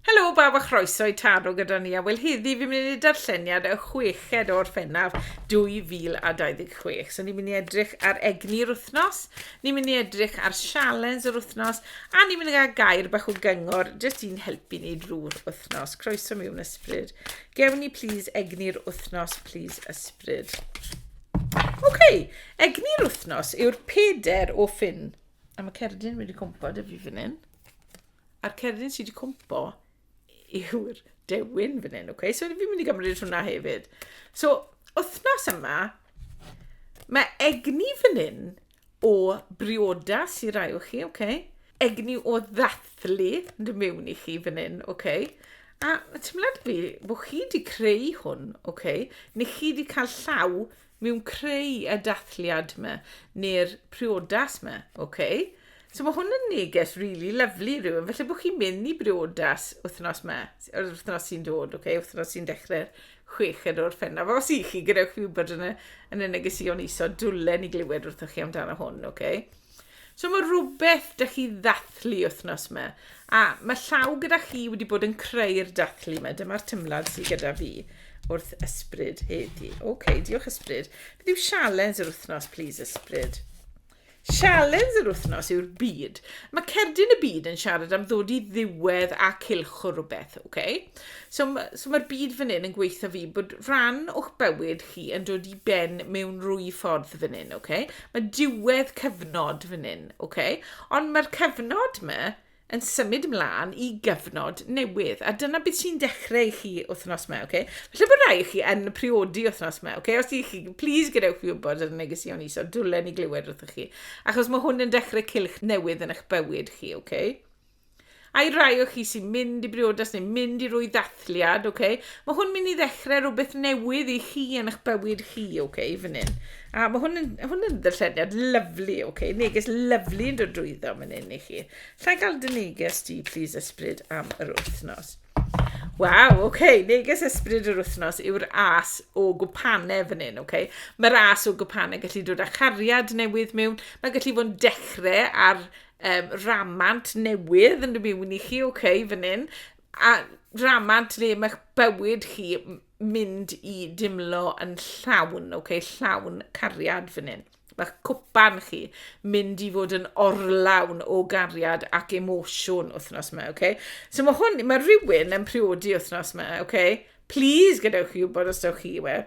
Helo bawb a chroeso i Taro gyda ni a wel heddi fi'n mynd i wneud darlleniad y chweched o Orffennaf 2026. So ni'n mynd i edrych ar egni'r wythnos, ni'n mynd i edrych ar sialens yr wythnos a ni'n mynd i gael gair bach o gyngor jyst i'n helpu ni drwy'r wythnos. Croeso mewn ysbryd. Gewn ni plîs egni'r wythnos, plîs ysbryd. Oce, okay. egni'r wythnos yw'r peder o ffyn. A mae cerdyn wedi cwmpa dy fi fan hyn. A'r cerdyn sydd wedi cwmpo yw'r dewin fan hyn, okay? So fi'n mynd i gymryd hwnna hefyd. So, wythnos yma, mae egni fan hyn o briodas i rai o chi, okay? Egni o ddathlu yn dy mewn i chi fan hyn, okay? A teimlad fi bod chi wedi creu hwn, okay? Neu chi wedi cael llaw mewn creu y dathliad ma, neu'r priodas ma, ok? So mae hwn yn neges really lovely rhywun, felly bod chi'n mynd i briodas wythnos ma, yr wythnos sy'n dod, ok? Wythnos sy'n dechrau'r chweched o'r ffenaf. Os i chi, gadewch fi wybod yn y, yn y negesion iso, dwlen i glywed wrthoch chi amdano hwn, ok? So mae rhywbeth da chi ddathlu wythnos yma, a mae llaw gyda chi wedi bod yn creu'r dathlu yma. Dyma'r tymlad sydd gyda fi wrth ysbryd heddi. Oce, okay, diolch ysbryd. Beth yw sialens yr wythnos, please, ysbryd? Sialens yr wythnos yw'r byd. Mae cerdyn y byd yn siarad am ddod i ddiwedd a cilch o rhywbeth, oce? Okay? So, so mae'r byd fan hyn yn gweithio fi bod rhan o'ch bywyd chi yn dod i ben mewn rwy ffordd fan hyn, oce? Okay? Mae diwedd cyfnod fan hyn, ok? Ond mae'r cyfnod yma yn symud ymlaen i gyfnod newydd. A dyna beth sy'n dechrau i chi wythnos yma, ok? Felly bod rai chi yn priodi wythnos yma, ok? Os ydych chi, please gadewch fi wybod ar y negeseuon ni, so dwlen i glywed wrthych chi. Achos mae hwn yn dechrau cilch newydd yn eich bywyd chi, ok? A'i rai o chi sy'n mynd i briodas neu mynd i rwy ddathliad, oce? Okay? Mae hwn mynd i ddechrau rhywbeth newydd i chi yn eich bywyd chi, oce, okay, fan hyn. A mae hwn yn, hwn yn ddylledniad lyflu, oce? Okay? Neges lyflu yn dod drwyddo fan hyn i chi. Lla gael dy neges di, please, ysbryd am yr wythnos. Waw, oce, okay. neges ysbryd yr wythnos yw'r as o gwpanau fan hyn, oce? Okay? Mae'r as o gwpanau gallu dod â chariad newydd mewn, mae gallu fod yn dechrau ar um, ramant newydd yn rhywun i chi, oce, okay, fan hyn, a ramant le mae'ch bywyd chi mynd i dimlo yn llawn, oce, okay, llawn cariad fan hyn. Mae'ch cwpan chi mynd i fod yn orlawn o gariad ac emosiwn wythnos yma, oce? Okay? So mae hwn, mae rhywun yn priodi wythnos yma, oce? Okay? Please gadewch chi wybod os dewch chi i we.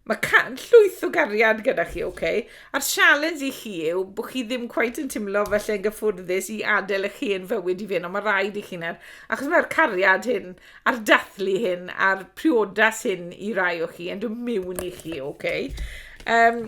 Mae can llwyth o gariad gyda chi, oce? Okay? A'r sialens i chi yw bod chi ddim cwaith yn teimlo felly yn gyffwrddus i adael eich hen fywyd i fynd, ond mae rhaid i chi na'r, achos mae'r cariad hyn, a'r dathlu hyn, a'r priodas hyn i rai o chi, yn dod mewn i chi, oce? Okay? Um,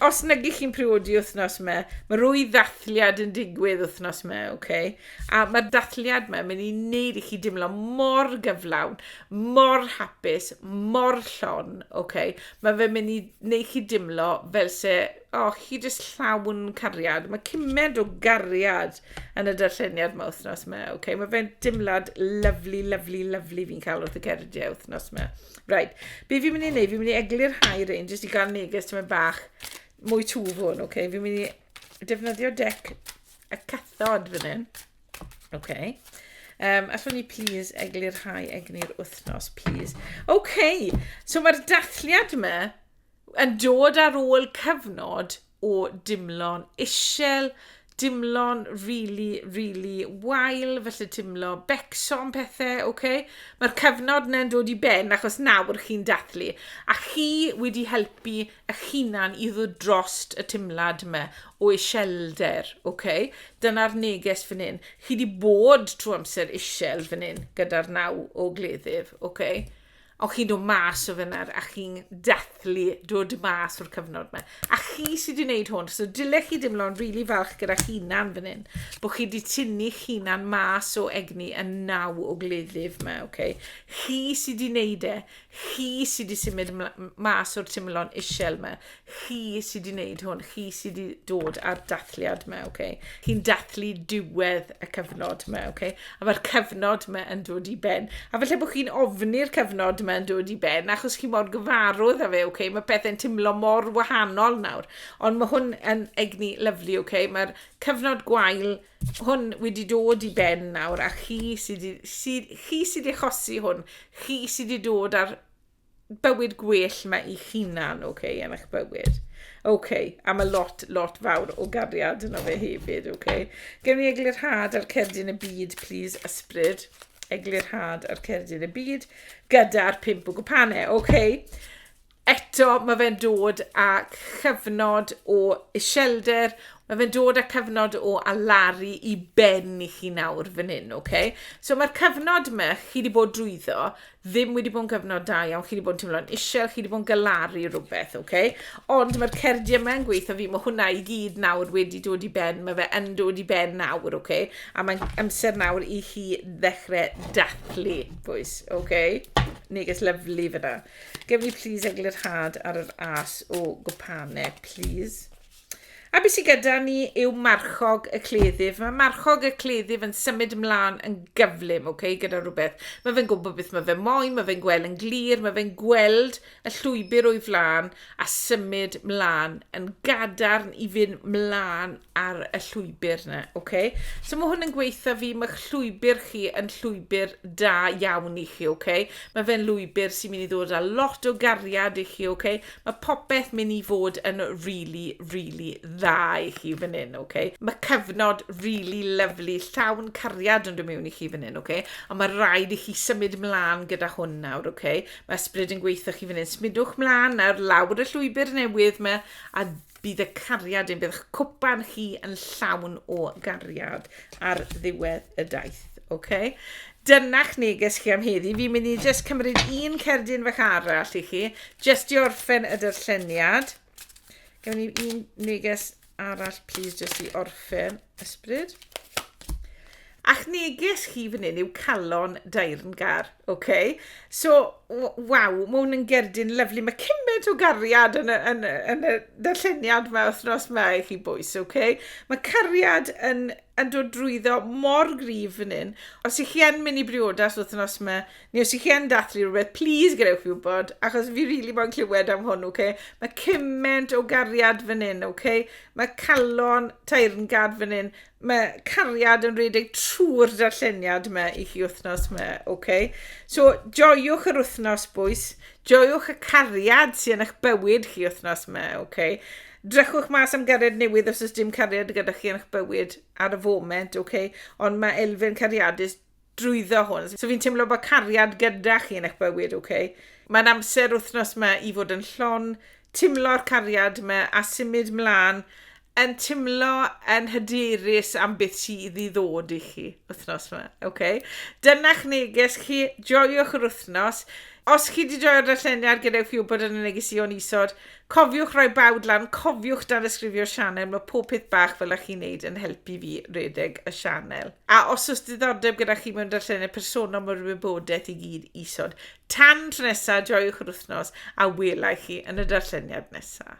os nag ych chi'n priodi wythnos yma, mae rwy ddathliad yn digwydd wythnos yma, oce? Okay? A mae'r dathliad yma yn mynd i wneud i chi dimlo mor gyflawn, mor hapus, mor llon, oce. Mae fe'n mynd i wneud chi dimlo fel se, o, oh, chi jyst llawn cariad. Mae cymaint o gariad yn y darlleniad mae wythnos yma, oce. Mae fe'n dimlad lyflu, lyflu, lyflu fi'n cael wrth y ceridiau wythnos yma. Right, be fi'n mynd i wneud, fi'n mynd i eglur hai rein, jyst i gael neges tyma'n bach mwy twf hwn, oce. Fi'n mynd i defnyddio dec y cathod fan hyn. OK. Um, allwn ni please eglurhau egni'r wythnos, please. OK, so mae'r dathliad yma yn dod ar ôl cyfnod o dimlo'n isel, dimlo'n really, really wael, felly timlo becso am pethau, oce? Okay? Mae'r cyfnod yna'n dod i ben achos nawr chi'n dathlu. A chi wedi helpu eich hunan i ddod drost y timlad yma o iselder, ok? Dyna'r neges fan hyn. Chi di bod trwy amser isel fan hyn gyda'r naw o gleddyf, ok? Ond chi'n dod mas o fyna a chi'n dathlu dod mas o'r cyfnod yma. A chi sydd wedi gwneud hwn, so dylech chi dimlo'n rili really falch gyda chi'nan fan hyn, bod chi wedi tynnu chi'nan mas o egni y naw o gleddyf yma, ok? Chi sydd wedi gwneud e, Chi sy wedi symud mas o'r timlon isel yma. Chi sy wedi wneud hwn. Chi sy wedi dod ar dathliad yma, oce? Okay? Chi'n dathlu diwedd y cyfnod yma, oce? Okay? A mae'r cyfnod yma yn dod i ben. A felly bod chi'n ofni'r cyfnod yma yn dod i ben, achos chi mor gyfarwydd â fe, oce? Okay? Mae pethau'n timlo mor wahanol nawr. Ond mae hwn yn egni lyflu, oce? Okay? Mae'r cyfnod gwael hwn wedi dod i ben nawr a chi sydd sy, chi sydd wedi chosi hwn, chi sydd wedi dod ar bywyd gwell mae eich hunan, oce, okay, yn eich bywyd. Oce, okay, a mae lot, lot fawr o gariad yna fe hefyd, oce. Okay. Gewn ni eglurhad ar cerdyn y byd, please, ysbryd. Eglurhad ar cerdyn y byd, gyda'r pimp o gwpanau, oce. Okay. Eto, mae fe'n dod â chyfnod o iselder, mae fe'n dod â cyfnod o alaru i ben i chi nawr fan hyn, oce? Okay? So mae'r cyfnod yma chi wedi bod drwyddo ddim wedi bod yn gyfnod da iawn, chi wedi bod yn teimlo'n isel, chi wedi bod yn galaru rhywbeth, oce? Okay? Ond mae'r cerdiau yma'n gweithio fi, mae hwnna i gyd nawr wedi dod i ben, mae fe yn dod i ben nawr, oce? Okay? A mae'n amser nawr i chi ddechrau dathlu, bwys, oce? Okay? Neges lyflu fyna. Gewn ni plis eglurhad ar yr as o gwpane, plis. A beth sydd gyda ni yw marchog y cleddyf. Mae marchog y cleddyf yn symud ymlaen yn gyflym, oce, okay, gyda rhywbeth. Mae fe'n gwybod beth mae fe'n moyn, mae fe'n gweld yn glir, mae fe'n gweld y llwybr o'i flaen a symud mlaen yn gadarn i fynd mlaen ar y llwybr na, oce? Okay? So mae hwn yn gweitha fi, mae llwybr chi yn llwybr da iawn i chi, oce? Okay? Mae fe'n lwybr sy'n mynd i ddod â lot o gariad i chi, oce? Okay? Mae popeth mynd i fod yn really, really dda i chi fan hyn, oce? Okay? Mae cyfnod really lovely, llawn cariad yn dod mewn i chi fan hyn, oce? Okay? A mae rhaid i chi symud mlaen gyda hwn nawr, oce? Okay? Mae ysbryd yn gweitha chi fan hyn, symudwch mlaen nawr lawr y llwybr newydd yma a Bydd y cariad yn, bydd eich cwpan chi yn llawn o gariad ar ddiwedd y daith. Okay? Dyna'ch neges chi am heddi. Fi'n mynd i just cymryd un cerdyn fach arall i chi, just i orffen y dyrlleniad. Gymryd un neges arall, please, just i orffen. Ysbryd. A'ch neges chi fan hyn yw calon dairngar, oce? Okay? So, waw, mae hwn yn gerdyn lyflu. Mae cymaint o gariad yn y, yn, yn y darlleniad yma wythnos yma i chi bwys, oce? Okay? Mae cariad yn, yn dod drwyddo mor grif fan hyn. Os ych chi yn mynd i briodas wythnos yma, Ni os chi yn dathlu rhywbeth, plîs gadewch fi wybod, achos fi rili moyn clywed am hwn, oce? Mae cyment o gariad fan hyn, oce? Mae calon taerngad fan hyn. Mae cariad yn rhedeg trwy'r darlleniad yma i chi wythnos yma, oce? So, joiwch yr wythnos, bwys. Joiwch y cariad sy'n eich bywyd chi wythnos yma, oce? Drychwch mas am gariad newydd os oes dim cariad gyda chi yn eich bywyd ar y foment, oce? Ond mae elfen cariadus drwyddo hwn. So fi'n teimlo bod cariad gyda chi yn eich bywyd, oce? Okay? Mae'n amser wythnos yma i fod yn llon, timlo'r cariad yma a symud mlaen yn timlo yn hyderus am beth sydd i ddod i chi wythnos yma, oce? Okay? Dyna'ch neges chi, joiwch yr wythnos. Os chi wedi joio'r darlleniad, gadewch fi wybod yn y neges i o'n isod. Cofiwch roi bawd lan, cofiwch danysgrifio'r sianel, mae pob peth bach fel a chi'n neud yn helpu fi redeg y sianel. A os oes diddordeb gyda chi mewn darllenau personol mae'r wybodaeth i gyd isod. Tan tro nesa, joiwch yr wythnos a welai chi yn y darlleniad nesa.